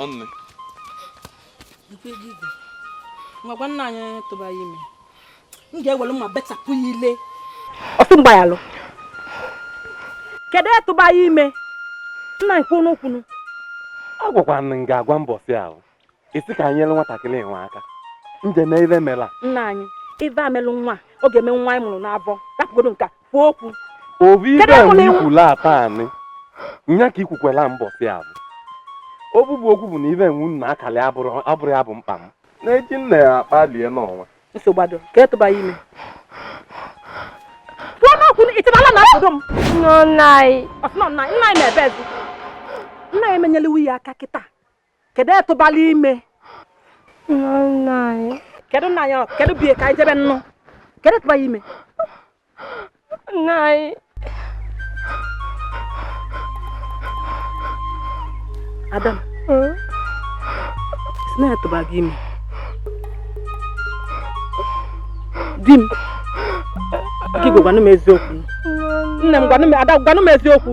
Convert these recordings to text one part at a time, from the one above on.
ọnụ ngwa gwa nna anyị tụba ya ime m ga-ewelu mma betapụ ya ile ọ sị m gbayalụ kedu etụba ya ime nna nkwunu kwunu agwakwa m ga-agwa mbọsị ahụ ị sị ka anyị nyere nwatakịrị enwe aka nje na ive mela nna anyị ive emelụ nwa ọ ga-eme nwa anyị mụrụ n'avọ rapụgodu m ka m kwuo okwu obi ibe Kedu ebe na iwu? ikwula ata anị nya ka ikwukwela mbọsị avụ okwu bụ okwu bụ na ibe enwu nna akalị abụrụ abụrụ ya bụ mkpa m na-eji nna ya akpalie n'ọnwa nsogbu adọ ka etụba ya ime kwuo n'okwu ịtịbala na obodo m nna anyị ọsịnọ nna nna anyị na-ebe ezi nna ya emenyela iwu ya aka kịta kedu etụbala ime kedu nna anyị kedu bie ka anyị jebe nnụ kedu etụbala ime nna anyị ada m sị na etụba gị ime di m gị gwa gwanụ m eziokwu nne m gwanụ m ada gwanụ m eziokwu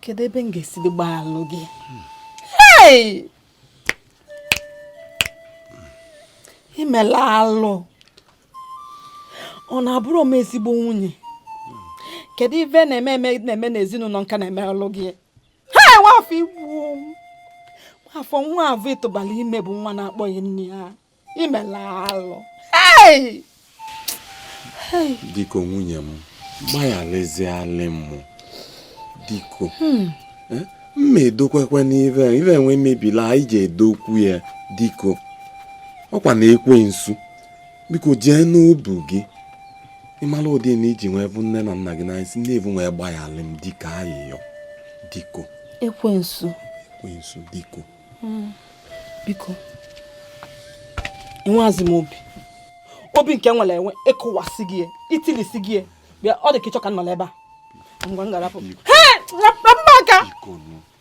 kedu ebe m ga-esi gbaghalụ gị i mela alụ ọ na abụrọ m ezigbo nwunye kedu ive na-eme eme na-eme n'ezinụnọ nka na-eme ọlụ gị ha nwafọ ị bụ nwafọ nwa avụ ị tụbala ime bụ nwa na-akpọ gị nna ya imela alụ biko nwunye m gbagharazialị m biko hmm. eh, mma edokwekwe n'ive ive enwe mebila anyị ji edokwu ya biko ọ kwa na ekwensu biko jee n'obu gị ị mala ụdị na i ji wee vụ nne na nna gị n'anya si n'ebe avụ wee gbaghara m biko ayịyọ biko ekwensu ekwensu biko hmm. biko enweghịzi m obi obi nke m nwere enwe ị kụwasịgo ya i tilisigo ya bịa ọ dị ka ị chọ ka m nọla ebe a ngwa m ga-arapụ aka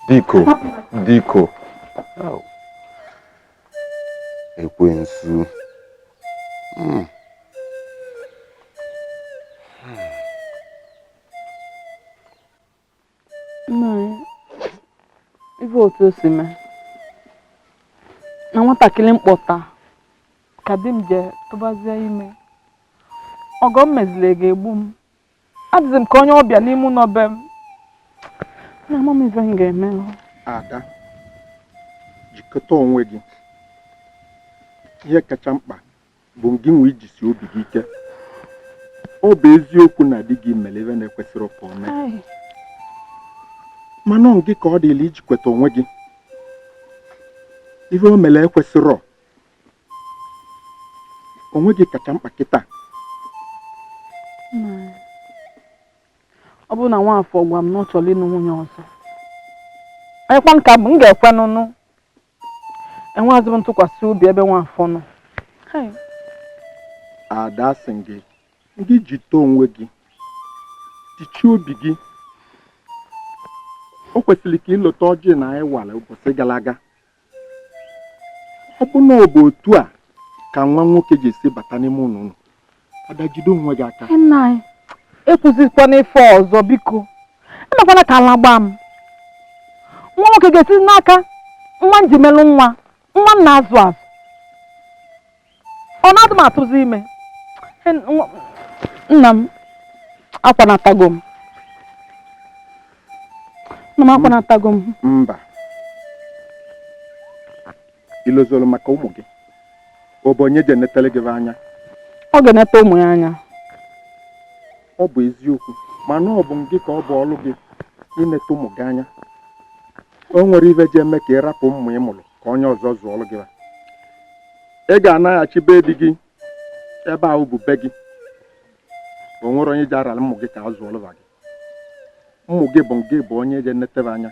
biko biko ekwensu hmm. ị vụ otu o si mee na nwatakịrị m kpọta ka di m je tụbazie ime ọgọ m meziri ga-egbu m adịzi m ka onye ọbịa n'ime ụnọ be m na ama m ife m ga-eme ada jikọta onwe gị ihe kacha mkpa bụ gị nwe ijisi obi gị ike ọ bụ eziokwu na di gị mere ive na-ekwesịrọ ka o mee mana gị ka ọ dịlị ijikweta onwe gị ihe o mere ekwesịrọ onwe gị kacha mkpa kịta ọ bụrụ na nwafọ gwa m na ọ chọrọ ịnụ nwunye ọzọ ekwe m ka m ga-ekwe n'ụnụ enweghịzi m ntụkwasị obi ebe nwafọ nọ ada asị m gị gị jite onwe gị jichie obi gị o kwesịrị ka i lota ọjị nna anyị wara ụbọchị gara aga ọ bụ na ọ bụ otu a ka nwa nwoke ji esi bata n'ime ụlọ unu ada jide onwe gị aka nna anyị ekwuzikwana ife ọzọ biko emekwana ka ala gbaa m nwa nwoke ga-esizi n'aka nwa m ji melụ nwa nwa m na-azụ azụ ọ na di m atụzi ime En- nwa- nna m akwanatago m nna m akwanatago m mba i lozoro maka ụmụ gị ọ bụ onye ji enetele gị anya ọ ga-enete ụmụ ya anya ọ bụ eziokwu mana ọ bụ gị ka ọ bụ ọrụ gị inete ụmụ gị anya o nwere ive ji eme ka ị rapụ ụmụ ị mụrụ ka onye ọzọ zụọrọ gị ị ga-anaghachi be di gị ebe ahụ bụ be gị o nwere onye ji arara ụmụ gị ka a zụọrọ gị ụmụ gị bụ gị bụ onye ji enetebe anya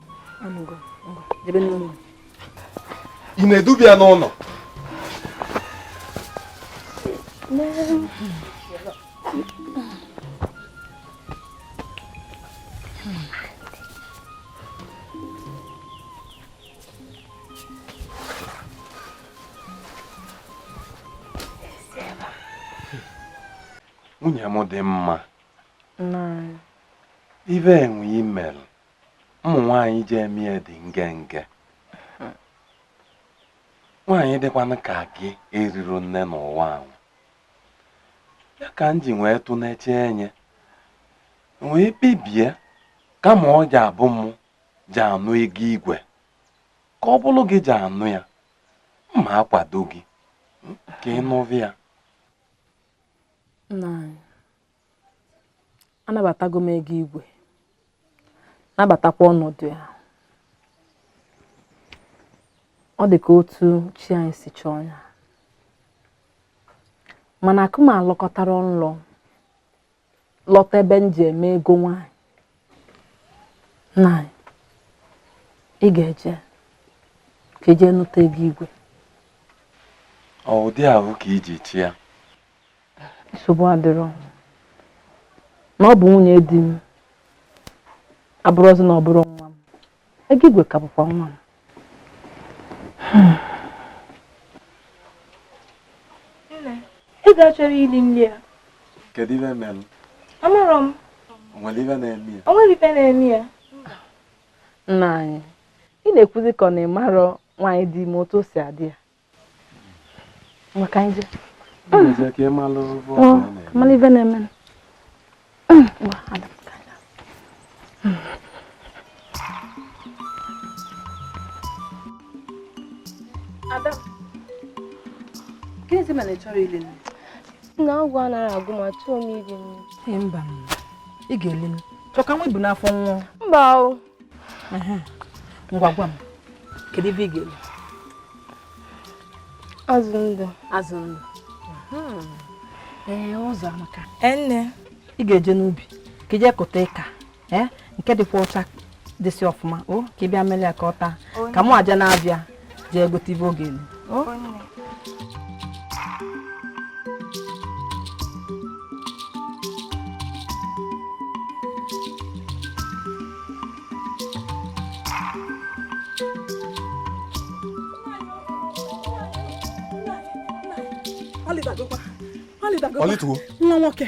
ị na-edubi ya n'ụlọ nwunye m dị mma ive enwe imel ụmụ nwaanyị ji eme ya dị ngenge nwaanyị dịkwanụ ka gị erirọ nne n'ụwa a ọ ya ka m ji wee tụneche enya wee kpebie kama ọ ji abụ m ji anụ ego igwe ka ọ bụrụ gị ji anụ ya mụ akwado gị ka ị nụrụ ya anabatago m ego igwe nabatakwa ọnọdụ ya ọ dị ka otu chi anyị si chọọ ya mana akụ m alọkọtara nlọ lọta ebe m ji eme ego nwanyị na ị ga-eje ka ị jee nụta ego igwe ọ ụdị ahụ ka iji chi ya nsogbu adịrọ na ọ bụ nwunye di m abụrọzi na ọ bụrọ nwa m ego igwe ka bụkwa nwa m ego achọrọ ili nni ya kedu ive mere amarọ m o nwere ive na-eme ya o nwere ive na-eme ya nna anyị ị na-ekwuzi ka ọ na ị marọ nwaanyị dị ime otu o si adị ya maka anyị je mala ive na-eme Ada, gịnịzi mere ị chọrọ ili nni? na agụụ anaghị agụ m achọrọ m iri nri mba ị ga-eli m chọka nwa i bu n'afọ nwa mba o ngwa gwa m kedu ive ị ga-eli azụ ndụ azụ ndụ ee ụzọamaka nne ị ga-eje n'ubi ka ị jee kụta ịka ee nke dịkwa ọcha dịsị ọfụma o ka ị bịa mere ya ka ọ taa ka mụ eje na-abịa jee gote ive ọ ga-elitu o nwa nwoke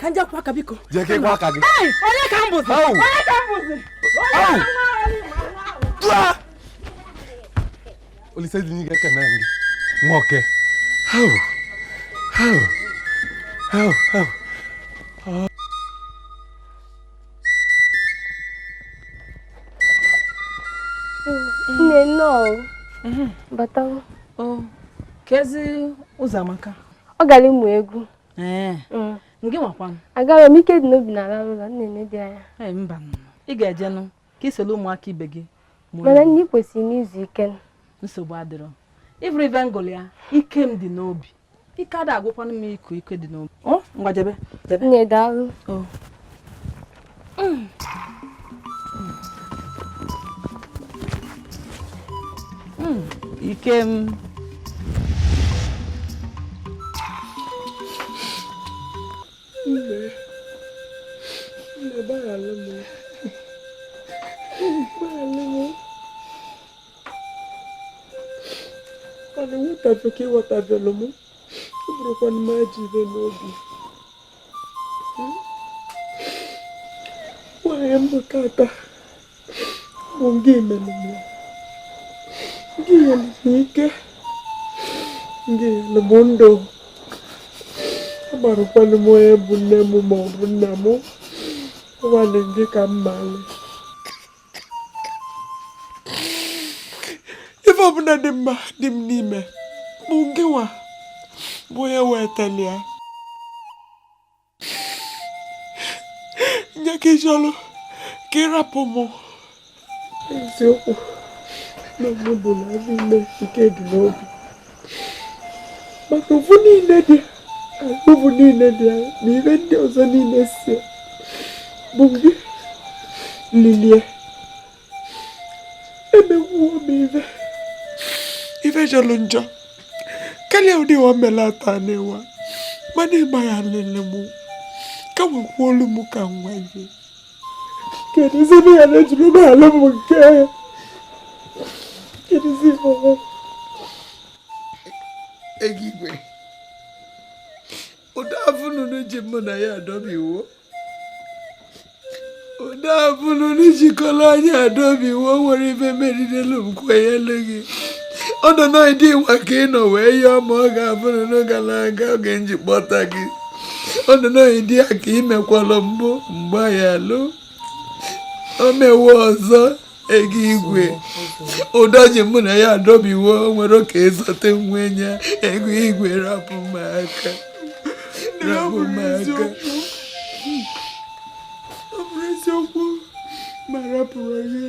ka m jee kwọọ aka biko jee ka ị kwọọ aka gị onye ka m bụzi onye ka m bụzi olisa dị n'igwe ekene gị nwoke hau hau hau hau nne nnọọ bata o kezi ụzọamaka ọ gara ịmụ egwu ee mm. ngị nwakwanụ agarọ m ike dị n'obi na ala ụlọ nne nne dị anya ee mba ị ga-ejenụ ka ị soro ụmụaka ibe gị mana nne i kwesịrị izu ike nsogbu adịrọ ị vụrụ ive m gụlụ ya ike m dị n'obi ike ada agwụkwanụ m iku ike dị n'obi ngwa jebe jebe nne daalụ ike m ọ na-enwetafe ka ịghọtabelụ m ọ bụrụkwa na m aji ibe n'obi onye m bụ tata bụ gị mere m gị nyere m ike gị nyere m ndụ amarọkwanụ m onye bụ nne m ma ọ bụ nna m naanị gị ka m maara ife ọbụna dị mma dị m n'ime bụ ngịnwa bụ onye wetara ya nye ka iji ọrụ ka ịrapụ m eziokwu na mụ bụ na n'ime nke dị m n'obi maka ofu niine dị ofu niine dị na ihe ndị ọzọ niine si bụ gị lilie emegwuo m ife ife jọlọ njọ karịa ụdị wa melata n'ụwa mana ịma ya lele m ka wee kulu m ka nwa gị Keduzi na ya na-ejiri m alụ m nke ya? Keduzi mama? Ego igwe. Ụdọ afụ nụnụ ji mụ na ya adọbiwo. Ụdọ afụ nụnụ jikọrọ anyị adọbiwo nwere ibe merirelu m kwenyelu gị. Ọ nọ n'ịdị ịwa ka ị nọ wee yọọ ma ọ ga-abụ nụnụ gara aga oge nji kpọta gị. ọdịnoyi dị ya ka imekwala mbụ mgbe ya lụ o mewe ọzọ ego igwe ụdọ ji mụ na ya adọbiwo were oke ezote nwe ya ego igwe rapụ m aka rapụ m aka ọ bụrụ eziokwu ma rapụrụ ya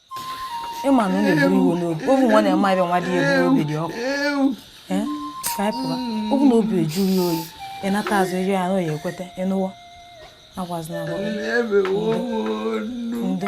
ịma na unu eburu iwe n'obi obi nwa na-eme abịa nwa dị ebu obi dị ọkụ Ee, ka anyị pụwa ọ bụ na obi eju ya oyi ịnata azụ iri anụ ya ekweta ịnụwo agwazina agwa ndo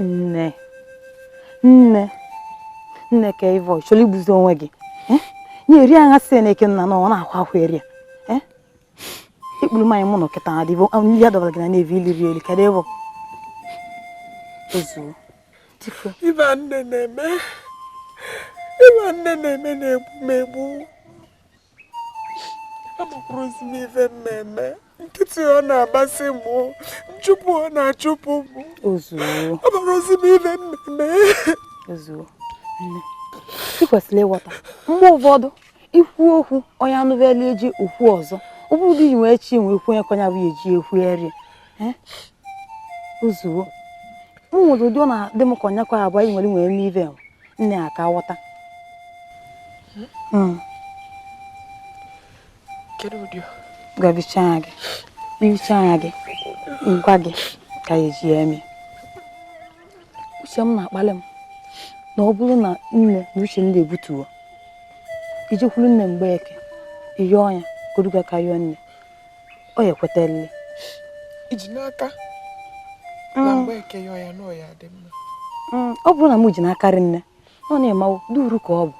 nne nne nne ka ive ị chọrọ igbuzi onwe gị eh? nye eri agha si na eke nna na ọ na-ahụ ahụ eri ya ikpuru mmanya mụ nọ kịta adịbụ nri ya dọbara gị na na-evi iliri elu kedụ ịbụ ezuo ive nne na-eme ive nne na-eme na-egbu m egbu amakwurọzi m ife m me-eme nkịtị ọ na-agbasị mụ nchụpụ ọ na-achụpụ mụ amakwurọzi m ife m me-eme ị kwesịrị ịghọta mgbe ụfọdụ ikwu okwu onye anụbela eji okwu ọzọ ọ bụrụ dị wee chi nwee kwenye kọnya bụ eji ekwu eri ozugbo m nwere ụdị ọ na-adị m ka ọnyakwa abụọ anyị nwere nwere ime ive nne aka ghọta hmm. ngwa hichaa anya gị hichaa anya gị ngwa gị ka ya eji ya eme uche m na-akpali m na ọ bụrụ na nne na uche nne ebutuwo ị jekwuru nne mgbeeke ị yọọ ya ka o duga ka yọọ nne ọ ya-ekwetalịlị eji m n'aka na mm. mgbeeke yọọ ya na ọ ya-adị mma mm, ọ bụrụ na m ji n'akarị nne ọ na-emawo duru ka ọ bụ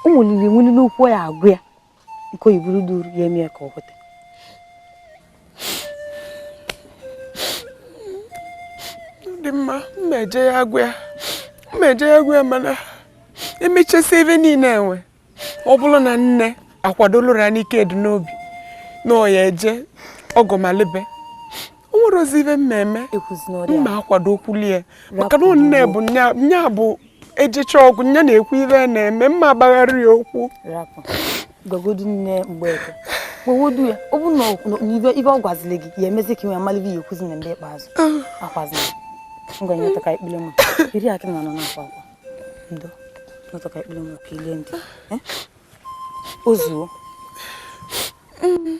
ụmụ lili nwulile ụkwụ ya agụ ya nke oyibo duru ya eme ka ọ kweta dị mma m ma-eje ya agwa ya m ma-eje ya agwa ya mana emechasị ive niile enwe ọ bụrụ na nne akwadolụra n'ike dị n'obi na ọ ya-eje ọgọmalibe o nwerọzi ive m me-eme m ma-akwado okwu lie maka na nne bụ nya bụ ejicha ọgwụ nya na-ekwu ive na-eme m ma-agbagharị ya okwu gwagodu nne mgbeeke gwagodu ya ọ bụ na ive ọ gwaziri gị ị ya-emezi ka ị wee malị ive ị ya-ekwuzi na mgbe ikpeazụ ah. akwazina ngwa nyeta ka ikpele m iri akị na anọ na-akwa akwa ndo nyeta ka ikpele m ka i lie ndị eh? o zuo mm.